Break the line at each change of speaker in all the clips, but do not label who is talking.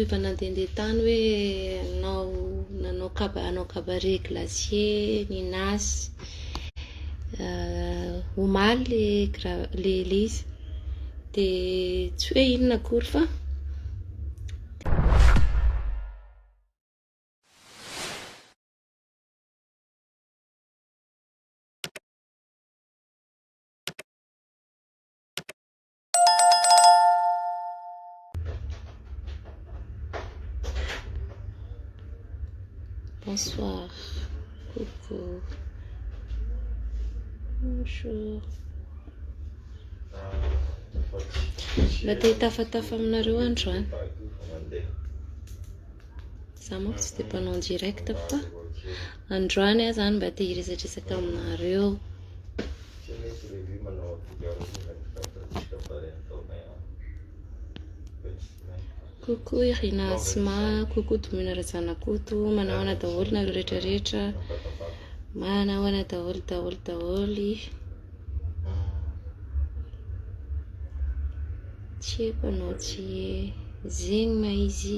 Efa nandehandeha tany hoe hanao nanao kaba hanao cabaret glacier ny Nasy. Omaly le gra- le le izy. Dia tsy hoe inona akory fa. Bonsoir. Coucou. Bonjour. Mba te hitafatafa aminareo androany. Za manko tsy dia mpanao direct fa androany aho zany mba te hiresadresaka aminareo. Tsy misy lehibe manao akory aho rehefa ny fantatsika fa ray an-taonay aho. Fetsinay. Coucou Irina Asma, coucou Domina Razanakoto, manao ana daholo nareo rehetra rehetra, manao ana daholo daholo daholo. Tsy haiko anao tsy zegny ma izy.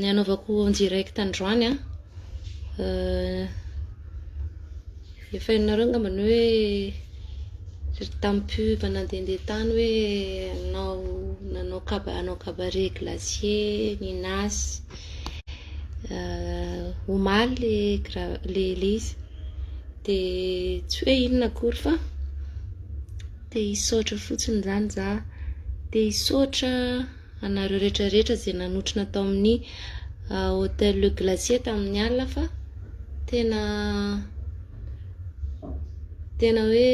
Ny hanaovako en direct androany an, efa hainareo angamba ny hoe ry tamin'ny pub nandehandeha tany hoe hanao nanao kaba hanao cabaret glacier, Ninas, omaly le gra- le le izy, dia tsy hoe inona akory fa te hisaotra fotsiny izany za, te hisaotra. anareo rehetra rehetra izay nanotrona tao amin'ny Hotel Le Glacier tamin'ny alina fa tena tena hoe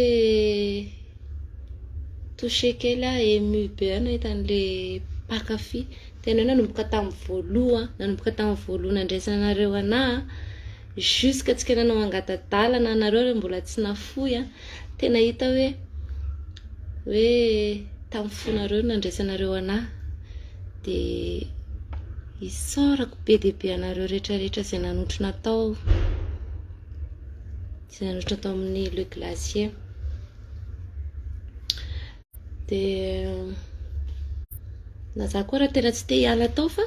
touché kely aho ému be aho nahita an'ilay mpankafy tena hoe nanomboka tamin'ny voaloha nanomboka tamin'ny voaloha nandraisanareo anah Jusque antsika nanao angata-dalana anareo re mbola tsy nafoy an! Tena hita hoe hoe tamin'ny fonareo no nandraisanareo anah dia isaorako be dia be anareo rehetra rehetra izay nanotrona tao izay nanotrona tao amin'ny le glacier. Dia na za koa raha tena tsy te hiala tao fa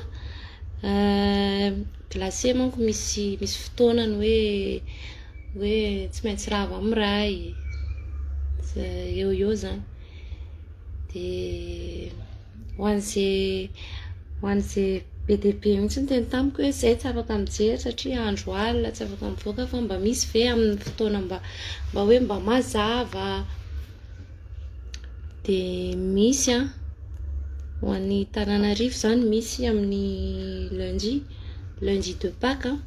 glacé manko misy misy fotoanany hoe hoe tsy maintsy rava amin'ny ray eo eo zany dia ho an'izay ho an'izay be dia be mihitsy ny teny tamiko hoe zay tsy afaka mijery satria andro alina tsy afaka mivoaka fa mba misy ve amin'ny fotoana mba mba hoe mba mazava Dia misy an, ho an'ny Tananarivo izany misy amin'ny lundi, lundi de paque an,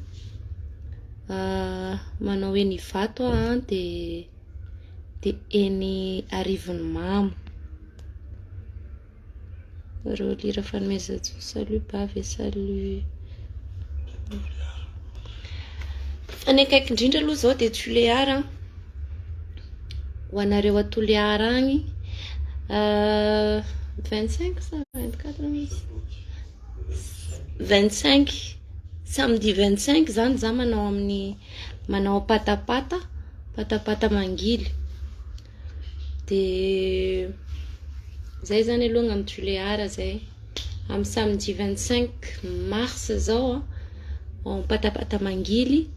manao eny Ivato aho dia eny Arivonimamo. Barao lira fanomezanjo salut bavy e salut fa ny akaiky indrindra aloha zao dia Tulear an ho anareo a Tulear agny euh, vingt cinq sa vingt quatre misy vingt cinq samedi vingt cinq zany za manao amin'ny manao patapata patapata mangily Dia izay izany aloha angamba Tuléar izay. Amin'ny samedi 25 mars izao ao Ampatapata Mangily.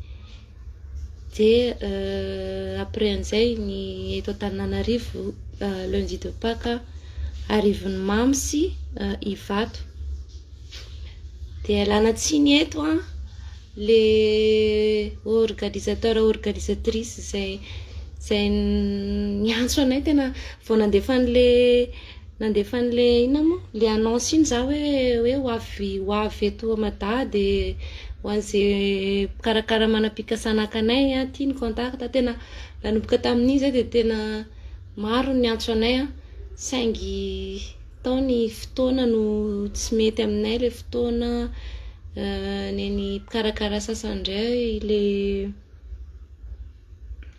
Dia après an'izay ny eto Antananarivo lundi de Pâques Arivony Mamy sy Ivato. Dia ialana tsiny eto an. le organisateur organisatrice zay zay niantso anay tena vao nandefa an'le nandefa an'le inona moa le annonce iny za hoe hoe ho avy ho avy eto mada de ho an'ze mpikarakara manam-pikasana haka anay an ty ny contact tena nanomboka tamin'iny zay de tena maro ny niantso anay an saingy Tao ny fotoana no tsy mety aminay ilay fotoana nen'ny mpikarakara sasany indray ilay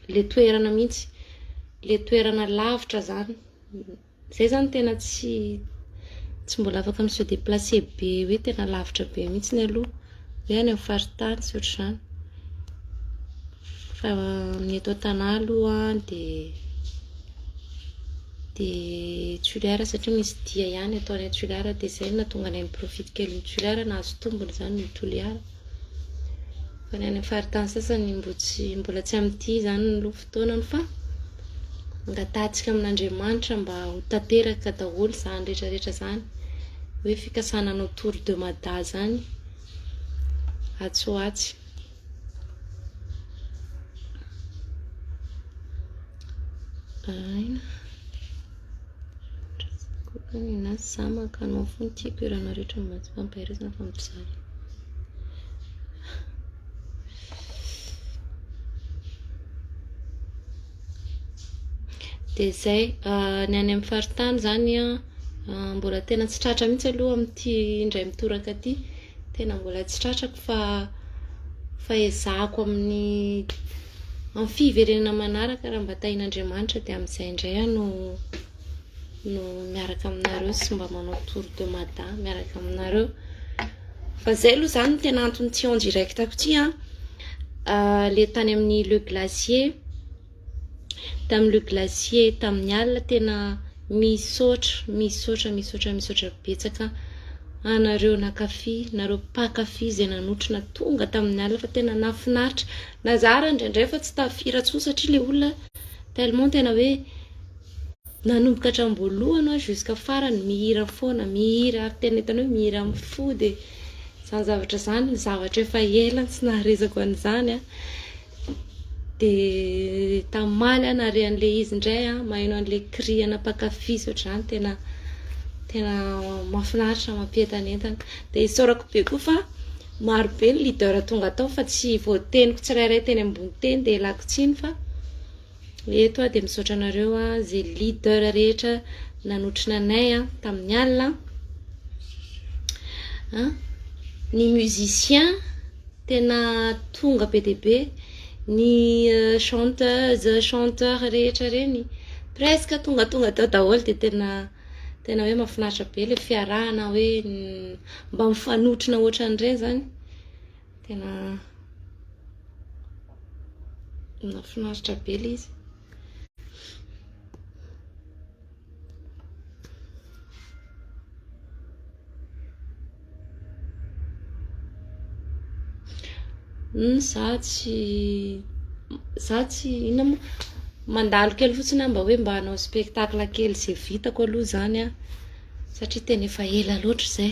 ilay toerana mihitsy, ilay toerana lavitra izany, izay izany tena tsy tsy mbola afaka mi-se déplacer be hoe tena lavitra be mihitsy aloha. Hoe any amin'ny faritany sy ohatr'izany. Fa ny eto an-tanà aloha dia dia toliara satria misy dia ihany atao any toliara dia izay no nahatonga anay ni-profite kely ny toliara, nahazo tombony izany ny toliara. Fa ny any amin'ny faritany sasany mbola tsy mbola tsy amin'ity izany ny loha fa. Taonany fa angatahantsika amin'Andriamanitra mba ho tanteraka daholo zany rehetra rehetra zany hoe fikasana hanao tour de Mada zany atsy ho atsy. Aina. Kokany na samaka anao fony tiako iranao rehetra mampaherezana fa mijaly. Dia izay, ah, ny any amin'ny faritany izany an, ah, mbola tena tsy tratra mihitsy aloha amin'ity indray mitoraka ity, tena mbola tsy tratrako fa fa ezahako amin'ny amin'ny fiverenana manaraka raha mba tahin'Andriamanitra dia amin'izay indray aho no no miaraka aminareo sy mba manao tour de Mada miaraka aminareo. Fa izay aloha izany no tena antony tsy en direct ko ity an! ilay tany amin'ny le glacier, tamin'ny le glacier tamin'ny alina tena misaotra misaotra misaotra misaotra betsaka anareo nankafy, nareo mpankafy izay nanotrona tonga tamin'ny alina fa tena nahafinaritra, na za ary indraindray efa tsy tafiry intsony satria ilay olona tellement tena hoe. Nanomboka hatramboalohany hoa jusqu'à farany mihira foana, mihira ary tena hitanao hoe mihira amin'ny fo dia izany zavatra izany zavatra efa ela tsy naharesako an'izany an, dia tamaly aho nahare an'ilay izy indray an, maheno an'ilay cri ana mpankafy sy ohatr'izany tena tena mahafinaritra mampientanentana, dia isaorako be koa fa maro be ny leader tonga tao fa tsy voateniko tsirairay teny ambony teny dia ialako tsiny fa. Eto aho dia misaotra anareo izay leader rehetra nanotrona anay tamin'ny alina. Ny musicien tena tonga be dia be, ny euh, chanteuse, chanteur rehetra reny presque tonga tonga tao daholo dia tena tena hoe mahafinaritra be ilay fiarahana hoe mba mifanotrona ohatran'ireny izany. Tena nafinaritra be ilay izy. Hmm, za tsy za tsy inona moa mandalo kely fotsiny aho mba hoe mba hanao spectacle kely izay vitako aloha izany an satria tena efa ela loatra izay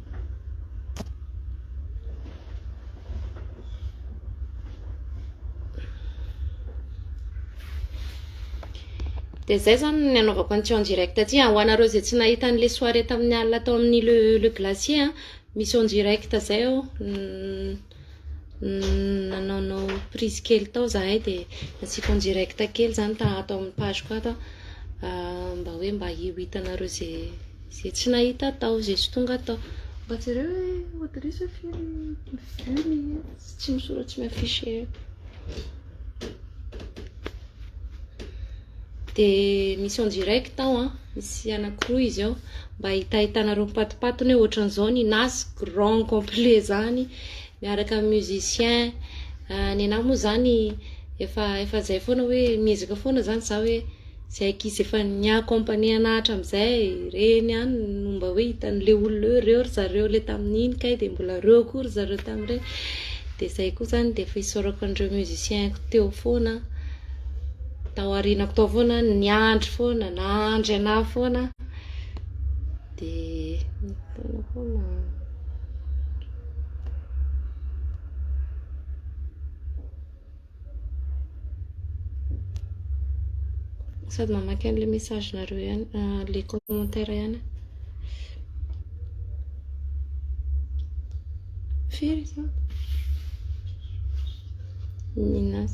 Dia izay izany ny anaovako an'ity en direct ity. Ho anareo izay tsy nahita an'ilay soirée tamin'ny alina tao amin'ny le, le glacier, misy en direct izay ao. nanaonao prise kely tao zahay dia nasiako en direct kely zany ta ato amin'ny page ko ato an mba hoe mba ho hitanareo ze ze tsy nahita tao ze tsy tonga tao mba jereo hoe auditrice hoe firy vue mihintsy tsy misoratra tsy mi-affiche Dia misy en direct ao an, misy anankiroa izy ao mba hitahitanareo mipatopatony hoe ohatran'izao ny nazy grand complet izany miaraka amin'ny musicien, ny anah moa izany efa efa izay foana hoe miezaka foana izany za hoe izay ankizy efa ni accompagner anah hatramin'izay ireny ihany no mba hoe hitan'ilay olona hoe reo ry zareo ilay tamin'iny kay dia mbola reo koa ry zareo tamin'ireny. Dia izay koa izany dia efa isaorako an'ireo musiciens-ko teo foana, tao aorianako tao foana, niandry foana, nahandry anà foana. Dia nitaona foana. Sady mamaky an'ilay message-nareo ihany, ilay commentaire ihany aho. Firy izao? Minas.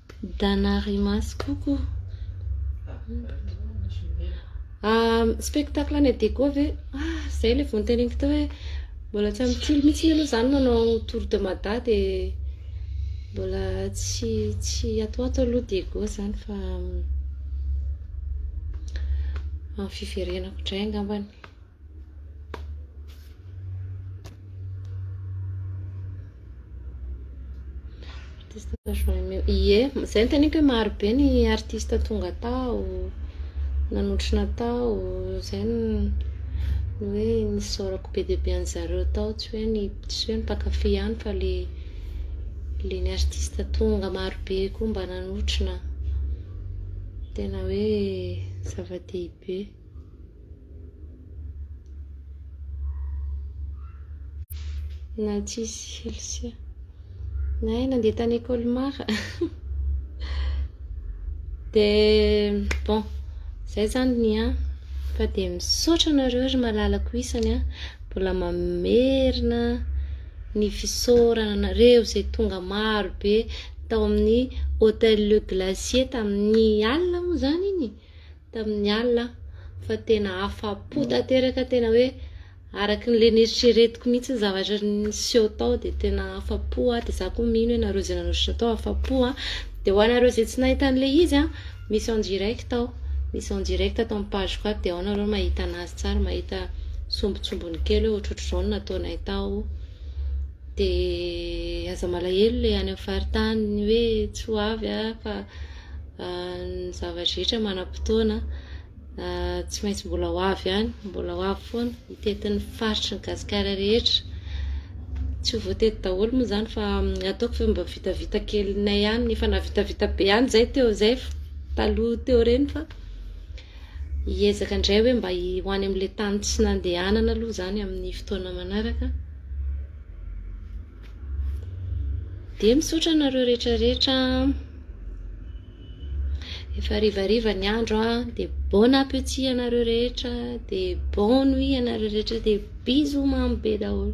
Danarimaso koko. Spectacle any Adego ve? Ah, zay le vao noteneniko teo hoe mbola tsy amin'ny tily mihitsy aloha zany manao tour de Mada de mbola tsy tsy atoato aloha Diego zany fa amin'ny fiverenako indray angambany. Ie, izay ny teniko hoe maro be ny artista tonga tao, nanotrona tao, izay ny hoe nisaorako be dia be an'ny zareo tao, tsy hoe ny tsy hoe ny mpankafy ihany fa le le ny artista tonga maro be koa mba nanotrona, tena hoe zava-dehibe. Na tsisy Chelsea. Nahay nandeha tany Colmar. Dia bon, izay zany ny an. Fa dia misaotra anareo ry malalako isany an. Mbola mamerina ny fisaorana anareo izay tonga maro be tao amin'ny Hôtel Le Glacier tamin'ny alina moa izany iny. tamin'ny alina fa tena afa-po tanteraka tena hoe araka ny le neritreretiko mihitsy ny zavatra niseho tao dia tena afa-po aho dia za koa mino hoe nareo izay nanotritra tao afa-po an dia ho anareo izay tsy nahita an'ilay izy an misy en direct ao misy en direct ato amin'ny page ko ato dia ao nareo mahita anazy tsara mahita sombintsombiny kely hoe ohatrohatr'izao no nataonay tao dia aza malahelo ilay any amin'ny faritany hoe tsy ho avy an fa Ny zavatra rehetra manam-potoana, tsy maintsy mbola ho avy ihany, mbola ho avy foana, hitety ny faritry ny Gasikara rehetra, tsy ho voatety daholo moa izany fa ataoko ve mba vitavita kelinay ihany, efa nahavitavita be ihany izay teo izay taloha teo ireny fa hiezaka indray hoe mba ho any amin'ilay tany tsy nandehanana aloha izany amin'ny fotoana manaraka, dia misaotra anareo rehetra rehetra an. Efa harivariva ny andro a, de bon appétit anareo rehetra, de bon nuit anareo rehetra, de bisous mamy be daholo.